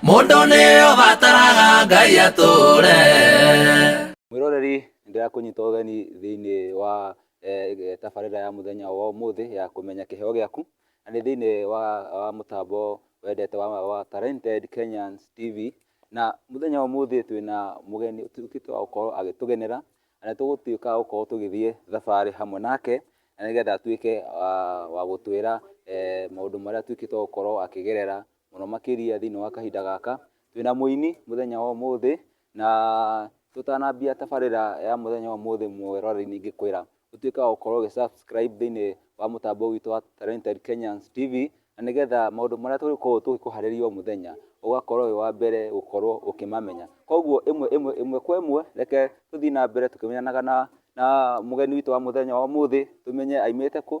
mũndũ nĩyo bataraga ngai atũre mwĩroreri ndĩrakũnyita ũgeni thĩinĩ wa eh, tabarĩra ya mũthenya wa ũmũthĩ ya kũmenya kĩheo gĩaku na nĩ thĩinĩ wa, wa mũtambo wendete wa, wa Talented Kenyans TV na mũthenya wa ũmũthĩ twĩna mũgeni ũtuĩkĩte wa gũkorwo agĩtũgenera na nĩ tũgũtuĩka gũkorwo tũgĩthiĩ thabarĩ hamwe nake na nĩgetha atuĩke wa gũtwĩra eh, maũndũ marĩa atuĩkĩte gũkorwo akĩgerera mũno makĩria thĩinĩ wa kahinda gaka. Twĩna mũini mũthenya wa ũmũthĩ, na tũtanambia tabarĩra ya mũthenya wa ũmũthĩ mweroreri-inĩ ingĩkwĩra ũtuĩke wa gũkorwo ũgĩ subscribe thĩinĩ wa mũtambo witũ wa Talented Kenyans TV, na nĩgetha maũndũ marĩa tũrĩkoragwo tũgĩkũharĩria o mũthenya, ũgakorwo wĩ wa mbere gũkorwo ũkĩmamenya. Koguo ĩmwe ĩmwe ĩmwe kwa ĩmwe, reke tũthiĩ na mbere tũkĩmenyanaga na na mũgeni witũ wa mũthenya wa ũmũthĩ, tũmenye aimĩte kũ,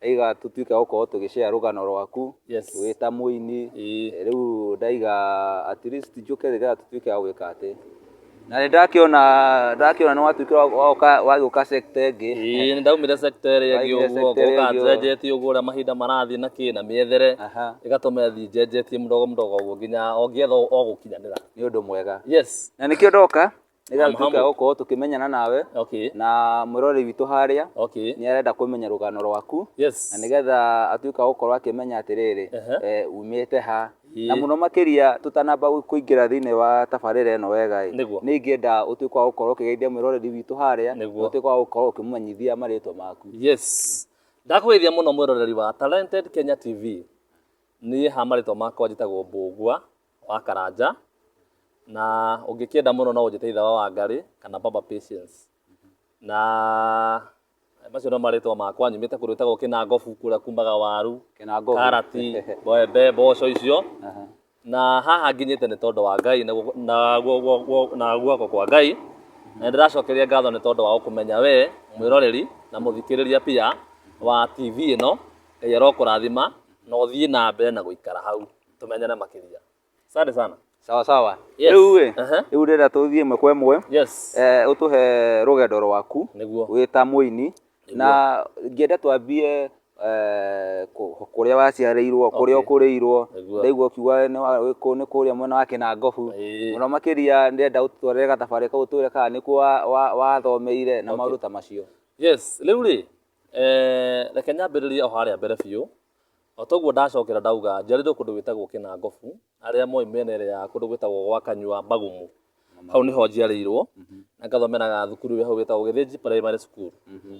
Ndaiga tũtuĩke gũkorwo tũgĩ share rũgano rwaku Yes. wĩ ta mũini. Ĩĩ. Eh, Rĩu ndaiga at least njũke nĩgetha tũtuĩke a gwĩka atĩ. Na nĩ ndakĩona ndakĩona nĩ watuĩkire wa- wa gũka- wa gĩũka sector ĩngĩ. Ĩĩ, nĩ ndaumire sector ĩrĩa ĩngĩ Waumire ũguo sector ngoka ĩngĩ ũguo. njenjetie ũguo ũrĩa mahinda marathiĩ na kĩ na mĩethere Aha. ĩgatũma ĩthiĩ njenjetie mũdogo mũdogo ũguo nginya o ngĩetha o gũkinyanĩra. Nĩ ũndũ mwega. Yes. Na nĩkĩo ndoka Nĩgetha tuke gũkorwo tũkĩmenyana nawe okay. na mwĩrori witũ harĩa okay. nĩ arenda kũmenya rũgano rwaku yes. na nĩgetha atuĩka gũkorwo akĩmenya atĩrĩrĩ uh -huh. e, eh, umĩte ha na muno makiria tutanamba kuingira thiini wa tabarira ino wega ri ni ngienda utuike wa gukorwo ukigeithia mwiroreri witu haria utuike wa gukorwo ukimumenyithia maritwa maku yes ndakugeithia muno mwiroreri wa talented kenya tv ni ha maritwa makwa njitagwo mbugua wa Karanja, na ũngĩkĩenda mũno no ũnjĩte ithe wa Wangarĩ kana baba Patience. Na macio no marĩtwa makwa nyumĩte kũndũ gwĩtagwo Kĩnangobu kũrĩa kumbaga waru, Kĩnangobu. karati, mbembe, mboco icio. Aha. Na haha nginyĩte nĩ tondũ wa Ngai na guoko- na guo- guo- guo- na guoko kwa Ngai. Na ndĩracokeria ngatho nĩ tondũ wa gũkũmenya we mwĩroreri na mũthikĩrĩria pia wa TV ĩno. Ngai arokũrathima na ũthiĩ na mbere na gũikara hau. tumenyane makiria asante sana sawa sawa Yes. rĩu ĩ Aha. rĩu ndĩrenda tũthiĩ ĩmwe kwa ĩmwe yes eh, ũtũhe rũgendo rwaku Nĩguo. wĩ ta mũini na ngĩenda twambie eh, kũ- kũrĩa waciarĩirwo kũrĩa Okay. ũkũrĩirwo Nĩguo. ndaigua ũkiuga nĩ wa- wĩ kũ- nĩ kũrĩa mwena wa kĩnangobu Ĩĩ. mũno makĩria ndĩrenda ũtwarĩre gatabarĩ kau twĩre kana nĩkuo wa- wa- wathomeire na maũndũ ta macio yes rĩu rĩ eh, reke nyambĩrĩrie o harĩa mbere biũ O ta ũguo ndacokera ndauga, njiarĩirwo kũndũ gwĩtagwo Kĩnangobu, arĩa moĩ mĩena ĩrĩa ya kũndũ gwĩtagwo gwa Kanyua Bagumu, hau nĩho njiarĩirwo, na ngathomera thukuru ĩrĩa hau ĩtagwo Gĩthĩnji Primary School,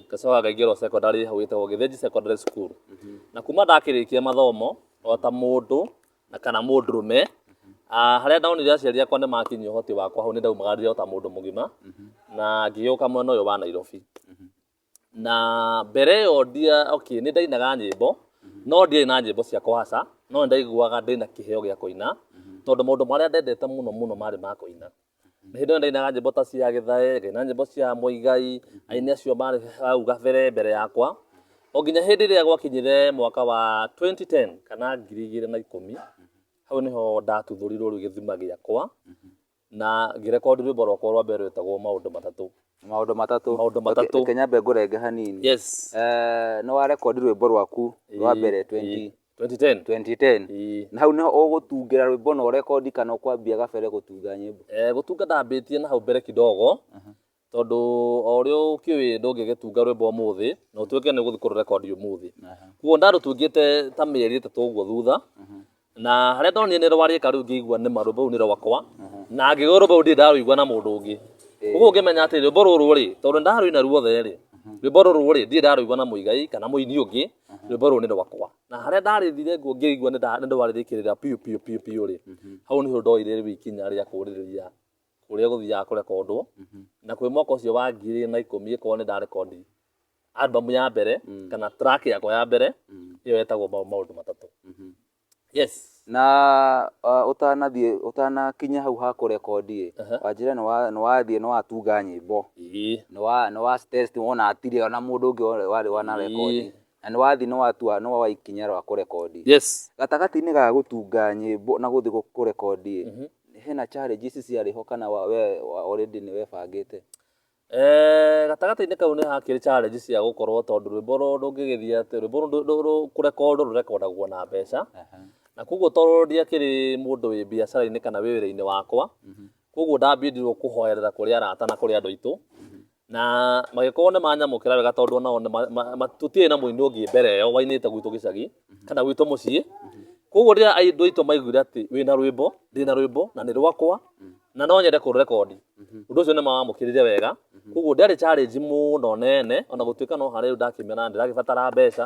ngacoka ngaingĩra o secondary hau ĩtagwo Gĩthĩnji Secondary School. Na kuma ndakĩrĩkia mathomo, o ta mũndũ na kana mũndũrũme, harĩa ndonire aciari akwa nĩ makinyia ũhoti wakwa hau nĩ ndaumagarire o ta mũndũ mũgima, na ngĩgĩũka mwena ũyũ wa Nairobi. Na mbere ĩyo ndia, okay, nĩ ndainaga nyĩmbo, no ndiarĩ na nyĩmbo cia kũhaca, no nĩ ndaiguaga ndĩ na kĩheo gĩa kũina, tondũ maũndũ marĩa ndendete mũno mũno marĩ ma kũina. Na hĩndĩ ĩyo nĩ ndainaga nyĩmbo ta cia Gĩthae, ngaina nyĩmbo cia Mũigai, aini acio marĩ hau gabere mbere yakwa. O nginya hĩndĩ ĩrĩa gwakinyire mwaka wa twenty ten, kana ngiri igĩrĩ na ikũmi, hau nĩho ndatuthũrirwo rĩu gĩthima gĩakwa. Na ngĩrekondi rwĩmbo rwakwa rwa mbere rwetagwo maũndũ matatũ. Maũndũ matatũ. Maũndũ matatũ. Reke nyambe ngũrenge hanini. Yes. Eh, nĩ warekondi rwĩmbo rwaku rwa mbere 20 2010. 2010. Na hau nĩho ũgũtungĩra rwĩmbo na ũrekondi kana ũkwambia gabere gũtunga nyĩmbo? Eh, gũtunga ndambĩtie na hau mbere kidogo. tondũ o ũrĩa ũkĩũĩ ndũngĩgĩtunga rwĩmbo ũmũthĩ na ũtuĩke nĩ gũthiĩ kũrũrekondi ũmũthĩ kuo ndarũtungĩte ta mĩeri ĩtatũ ũguo thutha na harĩa ndonire nĩ rwarĩka rĩu ngĩigua nĩ ma rwĩmbo rũu nĩ rwakwa na ngĩgwa rwĩmbo rũu ndirĩ ndarũigua na mũndũ ũngĩ ũguo ngĩmenya atĩ rwĩmbo rũrũ rĩ tondũ nĩ ndarũina ruothe rĩ rwĩmbo rũrũ rĩ ndirĩ ndarũigua na mũigai kana mũini ũngĩ rwĩmbo rũrũ nĩ rwakwa na harĩa ndarĩthire nguo ngĩigua nĩ ndarĩrĩkĩrĩra biũ biũ biũ biũ rĩ hau nĩho ndoire rĩu ikinya rĩa kũrĩrĩria kũrĩa gũthiaga kũrekondwo, na kwĩ mwaka ũcio wa ngiri igĩrĩ na ikũmi ĩkorwo nĩ ndarekondi album ya mbere kana track yakwa ya mbere ĩyo yetagwo ma- maũndũ matatũ yes na uh, ũtanathiĩ ũtanakinya hau ha kũrekondi ĩ Aha. wanjĩra nĩ wa- nĩ wathiĩ nĩ watunga nyĩmbo Ĩĩ. nĩ wa- nĩ wa test wona atire ona mũndũ ũngĩ warĩ wanarekondi Ĩĩ. Na nĩ wathi nĩ watua nĩ woa ikinya rwa kũrekondi. Yes. Gatagatĩ-inĩ ga gũtunga nyĩmbo na gũthi kũrekondi ĩ, hena challenges ciarĩ ho kana we already nĩ webangĩte? Eeh, gatagatĩ-inĩ kau nĩ hakĩrĩ challenge cia gũkorwo tondũ rwĩmbo rũ- rũngĩgĩthiĩ atĩ rwĩmbo rũ- rũ- rũ- kũrekondwo rũrekondagwo na mbeca na koguo tondũ ndiakĩrĩ mũndũ wĩ biacara-inĩ kana wĩ wĩra-inĩ wakwa koguo ndambindirwo kũhoerera kũrĩ arata na kũrĩ andũ aitũ na magĩkorwo nĩ manyamũkĩra wega tondũ onao nĩ ma- ma- ma- tũtirĩ na mũini ũngĩ mbere ĩyo wainĩte gwitũ gĩcagi kana gwitũ mũciĩ koguo rĩrĩa andũ aitũ maiguire atĩ wĩna rwĩmbo ndĩna rwĩmbo na nĩ rwakwa na no nyende kũrũrekondi ũndũ ũcio nĩ mawamũkĩrire wega koguo ndĩarĩ challenge mũno nene ona gũtuĩka no harĩ rĩu ndakĩmera ndĩragĩbatara mbeca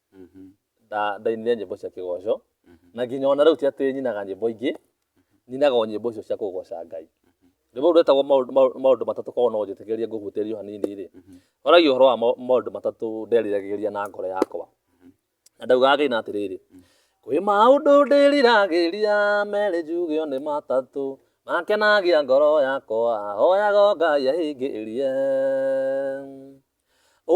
mhm. ndainire nyĩmbo cia kĩgoco mhm. na nginya ona rĩu ti atĩ nyinaga nyĩmbo ingĩ nyinaga o nyĩmbo icio cia kũgoca ngai rĩmwe ũndũ wetagwo maũndũ matatũ korwo no njĩtĩkĩrie ngũhutĩrio hanini rĩ horagia ũhoro wa maũndũ matatũ nderiragĩria na ngoro yakwa na ndaugaga gĩna atĩrĩrĩ kwĩ maũndũ ndĩriragĩria merĩ njugĩo nĩ matatũ makenagia ngoro yakwa hoyaga ngai ahingĩrie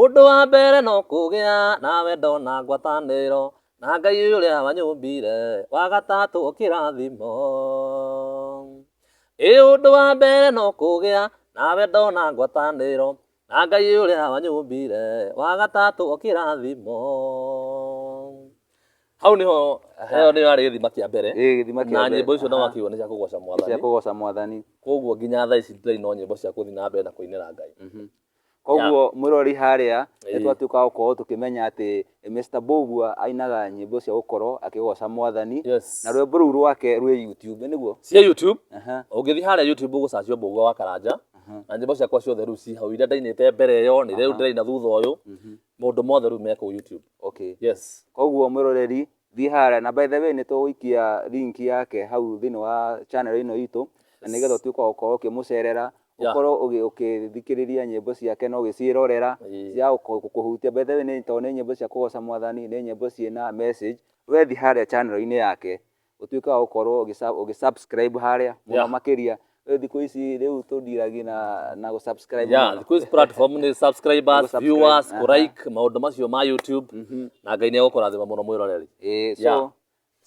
Ũndũ wa mbere no kũgĩa na wendo na ngwatanĩro na Ngai ũrĩa wanyũmbire, wa gatatũ kĩrathimo. Ĩ ũndũ wa mbere no kũgĩa na wendo na ngwatanĩro na Ngai ũrĩa wanyũmbire, wa gatatũ kĩrathimo. Hau nĩho ĩyo nĩyo yarĩ gĩthima kĩa mbere ĩ gĩthima kĩa na mbere. nyĩmbo icio no Aha. akiuga nĩ cia kũgoca cia mwathani kũgoca mwathani koguo nginya thaa ici tũrĩ no nyĩmbo cia gũthiĩ na mbere na kũinĩra Ngai Mhm. koguo mwĩrori harĩa nĩ twatuĩka gũkorwo tũkĩmenya atĩ Mr. Mbũgua ainaga nyĩmbo cia gũkorwo akĩgoca mwathani na rwĩmbo rũu rwake rwĩ YouTube nĩguo cia YouTube ũngĩthiĩ harĩa YouTube ũgũcacio Mbũgua wa Karanja na nyĩmbo ciakwa ciothe rĩu ci hau iria ndainĩte mbere ĩyo nĩ rĩu ndĩraina thutha ũyũ mũndũ mothe rĩu me kũu YouTube okay yes koguo mwĩroreri Thiĩ harĩa, na by the way nĩ tũgũikia link yake hau thĩinĩ wa channel ĩno itũ, na nĩgetha ũtuĩke wa gũkorwo ũkĩmũcerera, ũkorwo ũgĩthikĩrĩria nyĩmbo ciake na ũgĩciĩrorera, cia gũkũhutia. By the way nĩ tondũ nĩ nyĩmbo cia kũgoca Mwathani, nĩ nyĩmbo ciĩna message. We thiĩ harĩa channel-inĩ yake, ũtuĩke wa gũkorwo ũgĩ subscribe harĩa mũno makĩria, Rĩu thikũ ici rĩu tũndiragi na na gũ subscribe yeah mũno. thikũ ici platform nĩ subscribers Gũ-subscribe, viewers aha. kũrike maũndũ macio ma youtube na ngai nĩ egũkũrathima mũno mwĩroreri Ĩĩ, so Yeah.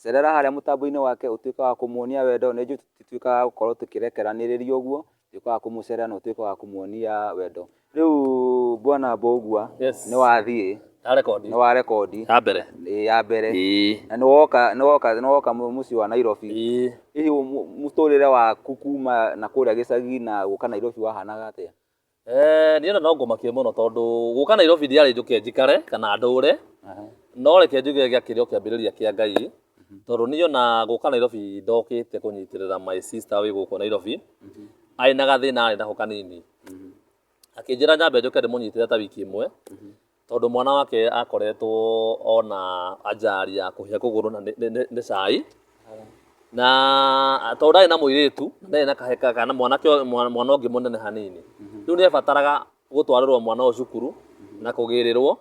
cerera harĩa mũtambo-inĩ wake ũtuĩke wa kũmuonia wendo nĩ njũ tituĩkaga gũkorwo tũkĩrekeranĩrĩria ũguo tuĩke wa kũmũcerera na ũtuĩke wa kũmuonia wendo Rĩu bwana Mbogua Yes. nĩ wathiĩ Na rekondi. nĩ wa rekondi Ya mbere. ĩ, ya mbere Ĩĩ. na nĩ woka nĩ woka nĩ woka mũ- mũciĩ wa Nairobi Ĩĩ. hihi mũ- mũtũrĩre waku kuma na kũrĩa gĩcagi na gũka Nairobi wahanaga atĩa Eh, niĩ ona no ngũmakie mũno tondũ gũka Nairobi ndiarĩ njũke njikare kana ndũre no reke njuge gĩa kĩrĩ o kĩambĩrĩria kĩa Ngai tondũ niĩ ona gũka Nairobi ndokĩte kũnyitĩrĩra my sister wĩ gũkũ Nairobi arĩ na gathĩna arĩ nako kanini mhm. akĩnjĩra nyambe njoke ndĩmũnyitĩre ta wiki ĩmwe mhm. tondũ mwana wake akoretwo ona anjari ya kũhĩa kũgũrũ na nĩ cai na tondũ ndarĩ na mũirĩtu ndarĩ na kaheka kana mwana ũngĩ mũnene hanini mhm. rĩu nĩ ebataraga gũtwarĩrwo mwana ũyũ cukuru na kũgĩrĩrwo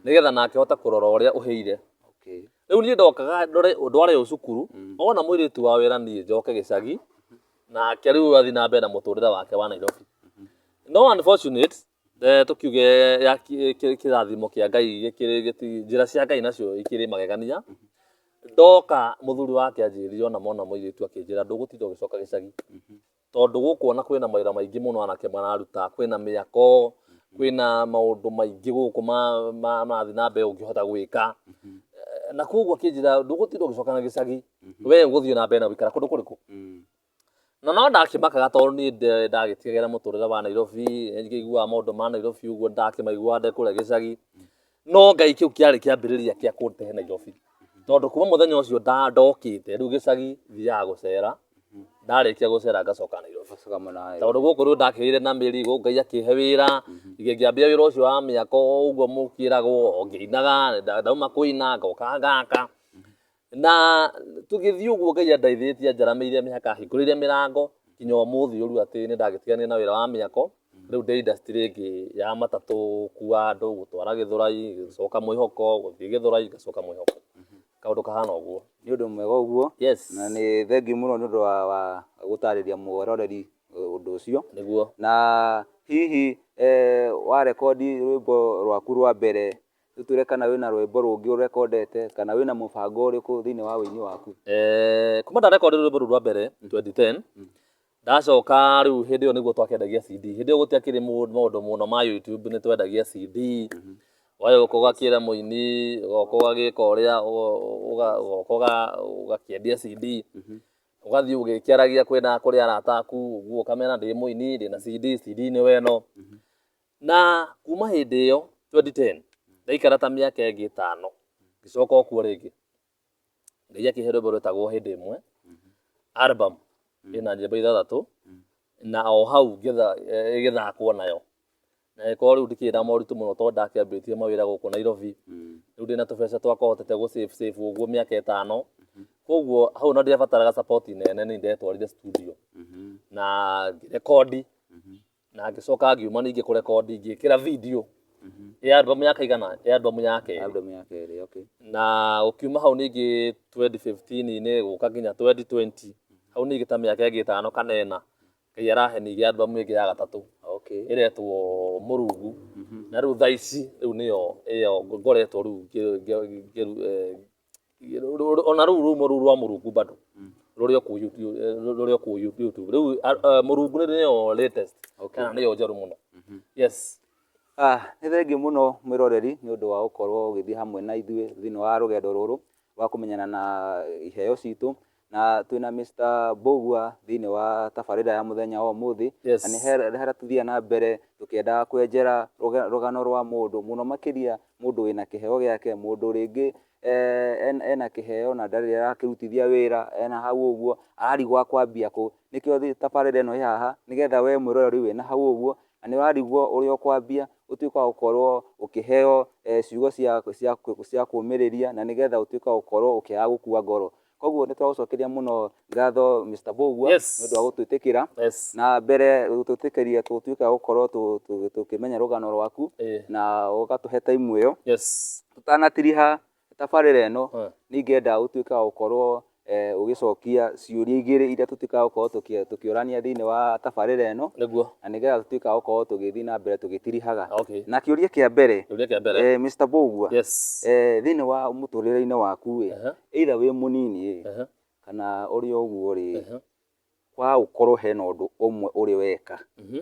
nĩgetha nake hote kũrora ũrĩa ũhĩire rĩu niĩ ndokaga ndware ũyũ cukuru mm. ona mũirĩtu wa wĩra niĩ njoke gĩcagi nake rĩu athiĩ na mbere na mũtũrĩre wake wa Nairobi no unfortunate eh, tukiuge ya ki- ki- kĩrathimo kĩa ngai gĩkĩrĩ- gĩti- njĩra cia ngai nacio ikĩrĩ magegania ndoka mũthuri wake anjĩrire ona mona mũirĩtu akĩnjĩra ndũgũtinda ũgĩcoka gĩcagi tondũ gũkũ ona kwĩna mawĩra maingĩ mũno anake mararuta kwĩna mĩako kwĩna maũndũ maingĩ gũkũ ma- ma- marathiĩ na mbere ũngĩhota gwĩka na koguo akĩnjĩra ndũgũtinda ũgĩcoka na gĩcagi Mhm. we gũthiĩ na mbere na gũikara kũndũ kũrĩkũ Mm. na no ndakĩmakaga tondũ niĩ nde- ndagĩtigagĩra mũtũrĩre wa nairobi ngĩiguaga maũndũ ma nairobi ũguo ndakĩmaiguaga ndĩ kũrĩa gĩcagi no ngai kĩu kĩarĩ kĩambĩrĩria kĩa kũndehe nairobi tondũ kuma mũthenya ũcio nda- ndokĩte rĩu gĩcagi thiaga gũcera ndarĩkia gũcera ngacoka nairobi Ũgacoka mũnayo. tondũ gũkũ rĩu ndakĩrĩire na mĩri gũkũ ngai akĩhe wĩra ngĩ- ngĩambia wĩra ũcio wa mĩako ũguo mũkĩragwo ngĩinaga nda- ndauma kũina ngoka ngaka Na tũgĩthiĩ ũguo Ngai andaithĩtie anjaramĩire mĩhaka ahingũrĩire mĩrango nginya ũmũthĩ ũru atĩ nĩ ndagĩtiganire na wĩra wa mĩako rĩu ndĩ industry ĩngĩ ya matatũ gũkua andũ gũtwara gĩthũrai gũcoka mwĩhoko gũthiĩ gĩthũrai ngacoka mwĩhoko kaũndũ kahana ũguo nĩ ũndũ mwega ũguo yes na nĩ thengiũ mũno nĩ ũndũ wa, wa gũtarĩria mwororeri eh, ũndũ ũcio nĩguo na hihi eh, warekondi rwĩmbo rwaku rwa mbere Tũtwĩre kana wĩna rwĩmbo rũngĩ ũrekondete kana wĩna mũbango ũrĩkũ thĩinĩ wa ũini waku? Eh, kuma ndarekonde rwĩmbo rũu rwa mbere 2010 ndacoka rĩu hĩndĩ ĩyo nĩguo twakĩendagia CD hĩndĩ ĩyo gũtiakĩrĩ mũ- maũndũ mũno ma YouTube nĩ twendagia CD wayo gũka ũgakĩra mũini ũgoka ũgagĩka ũrĩa ũgo- ũga- ũgoka ũga- ũgakĩendia CD ũgathiĩ ũgĩkĩaragia kwĩna kũrĩ arata aku ũguo ũkamera ndĩ mũini ndĩna CD CD nĩ weno Na kuma hĩndĩ ĩyo, 2010, ndaikara ta mĩaka ĩngĩ ĩtano, ngĩcoka o kuo rĩngĩ. Ngai akĩhe rwĩmbo rwetagwo hĩndĩ ĩmwe, album ĩna nyĩmbo ithathatũ, na o hau ngĩtha- eh, ĩgĩthakwo nayo. Na ĩkorwo rĩu ndikĩrĩ na moritũ mũno tondũ ndakĩambĩtie mawĩra gũkũ Nairobi, rĩu ndĩna tũbeca twakwa hotete gũ save save ũguo mĩaka ĩtano, koguo hau ona ndiabataraga support nene nĩ ndetwarire studio na ngĩrekondi na ngĩcoka ngiuma ningĩ kũrekondi ngĩkĩra video ya albamu ya kaigana ya albamu ya kerĩ Album ya kerĩ, okay. na ũkiuma hau ningĩ 2015-inĩ gũka nginya 2020 hau ningĩ ta mĩaka ĩngĩ ĩtano kana ĩna ngai arahe ningĩ albamu ĩngĩ ya gatatũ Okay. ĩretwo mũrungu na rĩu thaa ici rĩu nĩyo ĩyo ngoretwo rĩu ngĩ- ngĩ- ngĩ- eh, ona rũu rumo rũu rwa mũrungu bado rũrĩa kũ YouTube- eh, rũrĩa kũ YouTube rĩu ah, ah, mũrungu nĩ nĩyo latest kana nĩyo njerũ mũno yes Ah, nĩ thengiũ mũno mwĩroreri nĩ ũndũ wa gũkorwo ũgĩthiĩ hamwe na ithuĩ thĩinĩ wa rũgendo rũrũ wa kũmenyana na iheo citũ Na twĩna Mister Mbũgua thĩinĩ wa tabarĩra ya mũthenya wa ũmũthĩ. Yes. Na nĩ he he hara tũthiaga na mbere tũkĩenda kwenjera rũga rũgano rwa mũndũ, mũno makĩria mũndũ wĩna kĩheo gĩake, mũndũ rĩngĩ en ena kĩheo na ndarĩ arakĩrutithia wĩra, ena hau ũguo, ararigwo akwambia kũ. Nĩkĩo thĩ tabarĩra ĩno ĩ haha, nĩgetha wee mwĩroreri wĩna hau ũguo, na nĩ ũrarigwo ũrĩa ũkwambia, ũtuĩke wa gũkorwo ũkĩheo ciugo cia cia cia kũũmĩrĩria, na nĩgetha ũtuĩke wa gũkorwo ũkĩaga gũkua ngoro. Koguo nĩ tũragũcokeria mũno ngatho Mr. Mbũgua nĩ Yes. ũndũ wa gũtwĩtĩkĩra Yes. na mbere gũtwĩtĩkĩria tũtuĩke a gũkorwo tũ- tũ- tũkĩmenya rũgano rwaku Eh. na ũgatũhe taimu ĩyo. Yes. Tũtanatiriha tabarĩra ĩno Eh. nĩ ingĩenda ũtuĩke wa gũkorwo eh, ũgĩcokia ciũria igĩrĩ iria tũtuĩkaga gũkorwo tũkĩ- tũkĩũrania thĩinĩ wa tabarĩra ĩno Nĩguo. na nĩgetha tũtuĩke a gũkorwo tũgĩthiĩ na mbere tũgĩtirihaga. Okay. Na kĩũria kĩa mbere Kĩũria kĩa mbere. eh, Mr. Mbũgua Yes. eh, thĩinĩ wa mũtũrĩre-inĩ waku ĩ Aha. either wĩ mũnini rĩ Aha. kana ũrĩ o ũguo rĩ Aha. kwa ũkorwo hena ũndũ ũmwe ũrĩ weka Mhm.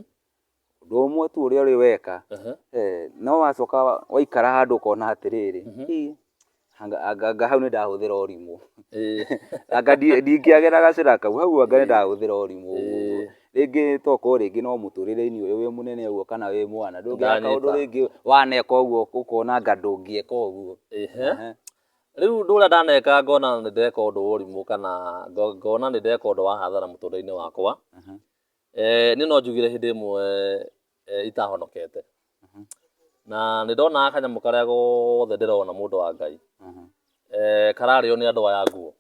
ũndũ ũmwe tu ũrĩa ũrĩ weka Aha. eh, no wacoka wa- waikara handũ ũkona atĩrĩrĩ Mhm. "Ĩ, anga- anga anga hau nĩ ndahũthĩra ũrimũ Eh, anga ndi- ndingĩagera gacĩra kau hau anga nĩ ndahũthĩra ũrimũ ũguo." Eh. rĩngĩ tokorwo rĩngĩ no mũtũrĩre-inĩ ũyũ wĩ mũnene ũguo kana wĩ mwana ndũngĩaka ũndũ Ndanĩka. rĩngĩ waneka ũguo ũkona anga ndũngĩeka ũguo ehe. Ehe. Rĩu ũndũ ũrĩa ndaneka ngona nĩ ndeka ũndũ wa ũrimũ kana ngo- ngona nĩ ndeka ũndũ wa hathara mũtũrĩre-inĩ wakwa Mhm. eh, niĩ no njugire hĩndĩ ĩmwe eh, itahonokete Mhm. na nĩ ndonaga kanyamũ karĩa gothe ndĩrona mũndũ wa ngai Mhm. eh, kararĩo nĩ andũ aya nguo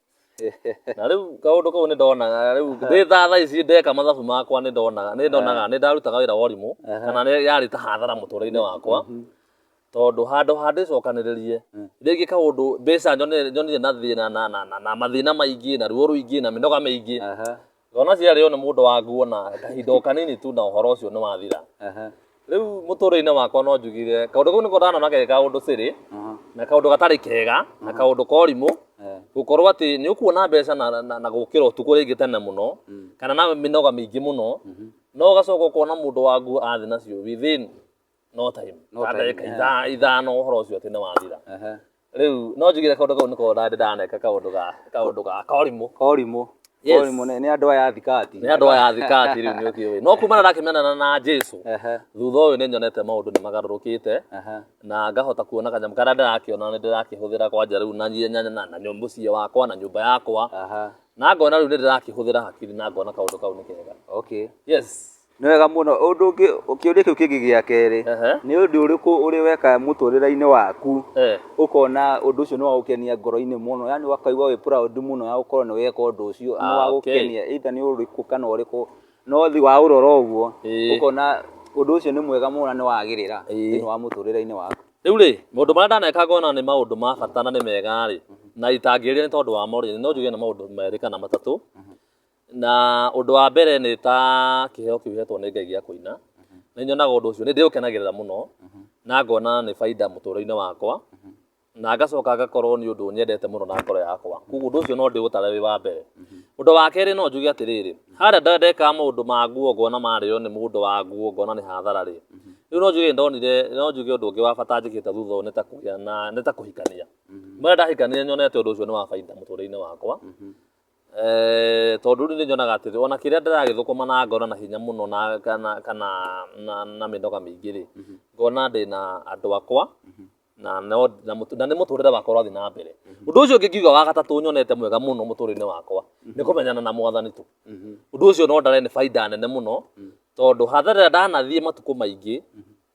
na rĩu kaũndũ kau nĩ ndonaga rĩu ndĩ tha thaa ici ndeka mathabu makwa nĩ ndonaga nĩ ndonaga nĩ ndarutaga wĩra wa ũrimũ Aha. kana nĩ yarĩ ta hathara mũtũrĩre-inĩ wakwa Mhm. tondũ handũ ha ndĩcokanĩrĩrie rĩngĩ kaũndũ mbeca nyone- nyonire na thĩna na- na- na- na mathĩna maingĩ na ruo rũingĩ na mĩnoga mĩingĩ Aha, ngona ciarĩo nĩ mũndũ wa nguo na kahinda o kanini tu na ũhoro ũcio nĩ wathira aha, rĩu mũtũrĩre-inĩ wakwa no njugire kaũndũ kau nĩko ndanona ge kaũndũ sĩrĩ aha, na kaũndũ gatarĩ kega na kaũndũ korimũ eh, gũkorwo atĩ nĩ ũkuona mbeca na, na, na gũkĩra ũtukũ rĩngĩ tene mũno Mm. kana na mĩnoga mĩingĩ mũno mhm, no ũgacoka ũkona mũndũ wa nguo athĩ nacio within no time No Kana time, ndagĩka eh. itha- ithano ũhoro ũcio atĩ nĩ wathira Ehe. rĩu no njigire kaũndũ kau nĩko ndandĩ ndaneka kaũndũ ga kaũndũ ga korimũ korimũ Yes. korimũ nĩ nĩ andũ aya a thikati nĩ andũ aya thikati rĩu nĩ ũkĩũĩ no kumana ndakimenana na jesu Ehe, thutha ũyũ nĩ nyonete maũndũ nĩ magarũrũkĩte ehe. na ngahota kuona kanyamũ karĩa ndĩrakĩona nĩ ndĩrakĩhũthĩra kwanja rĩu na nyie- na- na- na nyũ- mũciĩ wakwa na nyũmba yakwa Aha. na ngona rĩu nĩ ndĩrakĩhũthĩra hakiri na ngona kaũndũ kau nĩ kega okay yes Nĩ wega mũno. Ũndũ ũngĩ, kĩũria kĩu kĩngĩ gĩa kerĩ, nĩ ũndũ ũrĩkũ ũrĩ weka mũtũrĩre-inĩ waku ũkona ũndũ ũcio nĩ wa gũkenia ngoro-inĩ mũno, yaani ũkaigua wĩ proud mũno ya gũkorwo nĩ weka ũndũ ũcio, nĩ wa gũkenia, either nĩ ũrĩkũ kana ũrĩkũ, no waũrora ũguo ũkona ũndũ ũcio nĩ mwega mũno na nĩ wagĩrĩra thĩinĩ wa mũtũrĩre-inĩ waku? Rĩu rĩ, maũndũ marĩa ndaneka ngona nĩ maũndũ ma bata na nĩ mega rĩ, na itangĩrĩria nĩ tondũ wamo rĩ, no njuge nĩ maũndũ merĩ kana matatũ. na ũndũ wa mbere nĩ ta kĩheo kĩu hetwo nĩ ngai gĩa kũina nĩ nyonaga ũndũ ũcio nĩ ndĩũkenagĩrĩra mũno na ngona nĩ baida mũtũũrĩinĩ wakwa na ngacoka ngakorwo nĩ ũndũ nyendete mũno na ngoro yakwa koguo ũndũ ũcio no ndĩũtare wĩ wa mbere ũndũ wa kerĩ no njuge atĩrĩrĩ harĩa nda- ndeka maũndũ ma nguo ngona marĩo nĩ mũndũ wa nguo ngona nĩ hathara rĩ rĩu no njuge nĩ ndonire no njuge ũndũ ũngĩ wa bata njĩkĩte thutha ũyũ nĩ ta kũgĩa na nĩ ta kũhikania mara ndahikania nĩnyonete ũndũ ũcio nĩ wa baida mũtũũrĩinĩ wakwa Tondũ rĩu nĩ nyonaga atĩ ona kĩrĩa ndĩragĩthũkũma na ngona na hinya mũno na kana kana na mĩnoga mĩingĩ rĩ, ngona ndĩna andũ akwa na no na nĩ mũtũrĩre wakwa ũrathiĩ na mbere. Ũndũ ũcio ũngĩ ingiuga wa gatatũ nyonete mwega mũno mũtũrĩre-inĩ wakwa nĩ kũmenyana na Mwathani tu. Ũndũ ũcio no ndare nĩ bainda nene mũno tondũ hathara ĩrĩa ndanathiĩ matukũ maingĩ...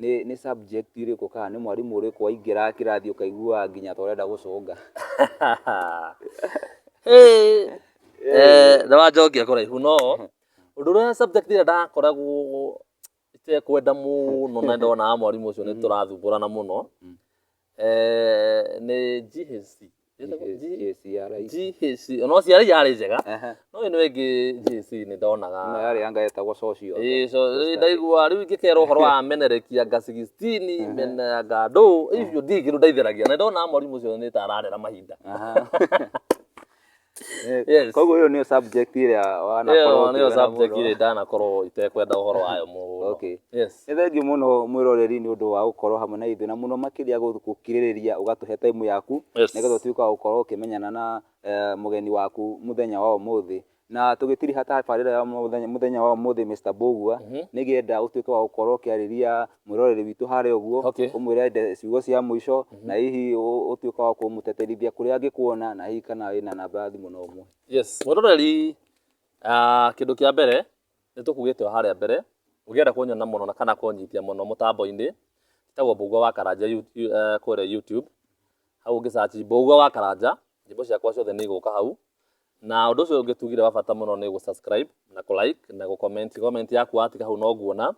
nĩ nĩ subject irĩkũ kana nĩ mwarimũ ũrĩkũ waingĩra kĩrathi ũkaigua nginya ta ũrenda gũcũnga Eh, na wanjokia kũraihu no ũndũ ũrĩa subject ĩrĩa ndakoragwo itekwenda mũno na ndonaga mwarimũ ũcio nĩ tũrathumbũrana mũno Mm. Eh, nĩ GHC Ĩtagwo G- GHC ya rais. GHC no ciarĩ yarĩ njega Ehe. no ĩno ĩngĩ GHC nĩ Ĩno ndonaga yarĩ yanga yetagwo social. Ĩĩ, so, rĩu ndaigua rĩu ingĩkerwo ũhoro wa menerekia nga 16 mena nga ndũ icio ndirĩ kĩndũ ndaitheragia na ndona mwarimũ ũcio nĩ ta ararera mahinda Aha. Eh, Yes. koguo ũyũ nĩyo subject ĩrĩa Ĩyo wanakorwo nĩyo ũkĩona subject mũno. ĩrĩa ndanakorwo itekwenda ũhoro wayo mũno Okay. yes nĩ thengiũ mũno mwĩroreri nĩ ũndũ wa gũkorwo hamwe na ithuĩ na mũno makĩria gũ- gũkirĩrĩria ũgatũhe time yaku Yes. nĩgetha ũtuĩke wa gũkorwo ũkĩmenyana na eh, mũgeni waku mũthenya wa ũmũthĩ na tũgĩtiriha tabarĩra ya mũthenya, mũthenya wa ũmũthĩ Mr. Mbũgua nĩngĩenda ũtuĩke wa gũkorwo ũkĩarĩria mwĩroreri witũ harĩa ũguo, Okay. ũmwĩre ende ciugo cia mũico, na hihi ũ- ũtuĩke wa kũmũteterithia kũrĩa angĩkuona, na hihi kana wĩna namba ya thimũ no ũmũhe. Yes, mwĩroreri ah, kĩndũ kĩa mbere nĩ tũkugĩte o harĩa mbere ũngĩenda kunyona mũno na kana kũnyitia mũno mũtambo-inĩ tagwo Mbũgua wa Karanja you- you- eh, kũrĩa YouTube hau ũngĩ search Mbũgua wa Karanja nyĩmbo ciakwa ciothe nĩ igũka hau na ũndũ ũcio ũngĩ tugire wa bata mũno nĩ gũ subscribe na kũ like na gũ comment comment yaku watiga hau no nguona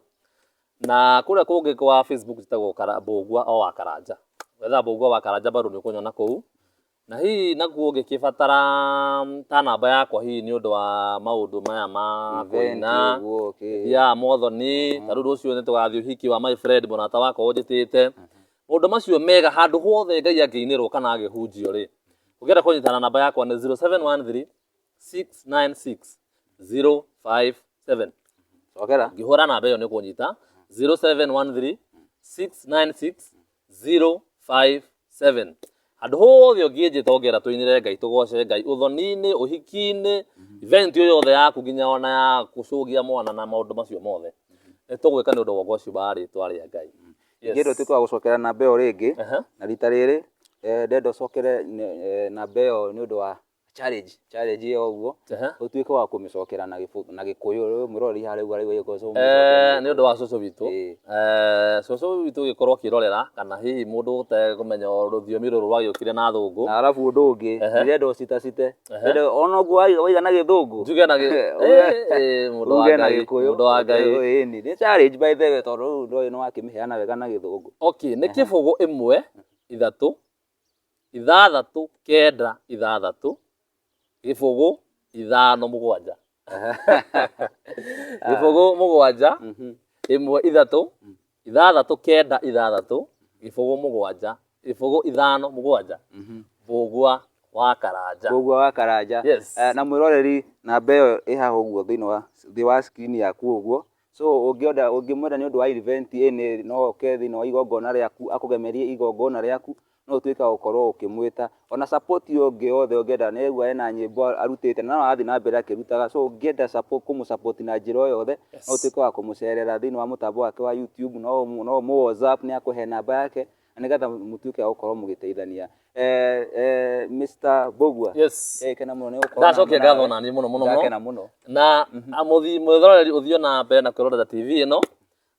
Na kũrĩa kũngĩ kwa Facebook njĩtagwo Mbũngua o wa Karanja. Wetha Mbũngua wa Karanja bado nĩ ũkũnyona kũu. Na hihi nakuo ũngĩkĩbatara ta namba yakwa hihi nĩ ũndũ wa maũndũ maya ma kũina, ya mothoni, ta rĩu rũciũ nĩ tũgathiĩ ũhiki wa my friend mũrata wakwa ũnjĩtĩte. Maũndũ macio mega handũ hothe Ngai angĩinĩrwo kana angĩhunjio rĩ, ũngĩenda kũnyita na namba yakwa nĩ 0713 696057 cokera ngĩhũra namba ĩyo nĩ kũnyita 0713696057 handũ hothe ũngĩnjĩta ongera tũinĩre ngai tũgoce ngai ũthoni-inĩ ũhiki-inĩ event ĩyo yothe yaku nginya ona ya gũcũgia mwana na maũndũ macio mothe nĩ tũgwĩka nĩ ũndũ wa ũgoci wa rĩtwa rĩa ngai Yes. ingĩenda ũtuĩke wa gũcokera namba ĩyo rĩngĩ Aha. na rita rĩrĩ eh, ndenda ũcokere eh, namba ĩyo nĩ ũndũ wa challenge challenge ĩyo ũguo Aha. ũtuĩke wa kũmĩcokera na gĩbũ- na gĩkũyũ rĩu mũrori harĩa ũguo araigua gĩkũyũ so Eh, nĩ ũndũ wa cũcũ witũ Ĩĩ. Eh, cũcũ witũ ũgĩkorwo ũkĩrorera kana hihi mũndũ ũtekũmenya rũthiomi rũrũ rwagĩũkire na thũngũ na arabu ũndũ ũngĩ Ehe. ndĩrenda ũcitacite Ndĩrenda ona ũguo wai- waiga na gĩthũngũ njuge na gĩ- Eh, Eh, eh, mũndũ wa uge na Ngai, gĩkũyũ mũndũ wa Ngai. Ĩĩ, ĩni. nĩ challenge by the way tondũ rĩu ndũĩ nĩ wakĩmĩheana wega na gĩthũngũ okay nĩ kĩbũgũ ĩmwe ithatũ ithathatũ kenda ithathatũ gĩbũgũ ithano mũgwanja gĩbũgũ mũgwanja Mhm. ĩmwe ithatũ ithathatũ kenda ithathatũ gĩbũgũ mũgwanja gĩbũgũ ithano mũgwanja Mhm. mbũgua wa karanja Koguo wa karanja Yes. Eh, na mwĩroreri namba ĩyo ĩhaha ũguo thĩinĩ wa thĩ wa screen yaku ũguo So ũngĩenda ũngĩmwenda nĩ ũndũ wa event ĩnĩ, no oke thĩinĩ wa igongona rĩaku, akũgemerie igongona rĩaku, no ũtuĩke wa gũkorwo ũkĩmwĩta. Ona support ĩyo ĩngĩ yothe ũngĩenda, nĩ aigua ena nyĩmbo arutĩte na no arathiĩ na mbere akĩrutaga. So ũngĩenda support kũmũ support na njĩra o yothe, no ũtuĩke wa kũmũcerera thĩinĩ wa mũtambo wake wa YouTube, no ũmũ whatsapp, nĩ akũhe namba yake, Na nĩ getha mũtuĩke a gũkorwo mũgĩteithania. Eh, eh, Mr. Bogua. Yes. Eh, kena mũno nĩ gũkorwo na Ndacokia hamwe ngatho nawe. na niĩ mũno mũno mũno. Ndakena mũno. na mũthi- mwĩroreri ũthiũ na mbere na kwĩrorera tv ĩno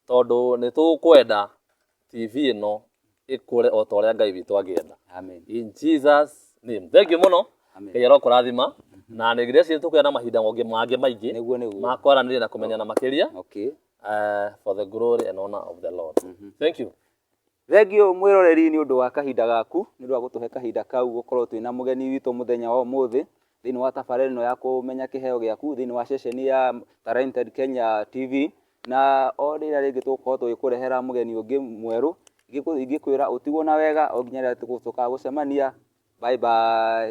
tondũ nĩ tũkwenda tv ĩno ĩkũre o ta ũrĩa ngai witũ angĩenda Amen. in jesus name thank you mũno Amen. ngai arokũrathima na nĩ ngirĩci nĩ tũkwenda na mahinda mangĩ mangĩ maingĩ Nĩguo nĩguo. ma kwaranĩria na kũmenyana makĩria Okay. uh, for the glory and honor of the lord thank you Thengiũ mwĩroreri nĩ ũndũ wa kahinda gaku, nĩ ũndũ wa gũtũhe kahinda kau gũkorwo twĩna mũgeni witũ mũthenya wa ũmũthĩ, thĩinĩ wa tabarĩra ĩno ya kũmenya kĩheo gĩaku, thĩinĩ wa ceceni ya Talented Kenya TV, na o rĩrĩa rĩngĩ tũgũkorwo tũgĩkũrehera mũgeni ũngĩ mwerũ, ingĩkwĩra ũtigwo na wega o nginya rĩrĩa tũgũcoka gũcemania, bye bye.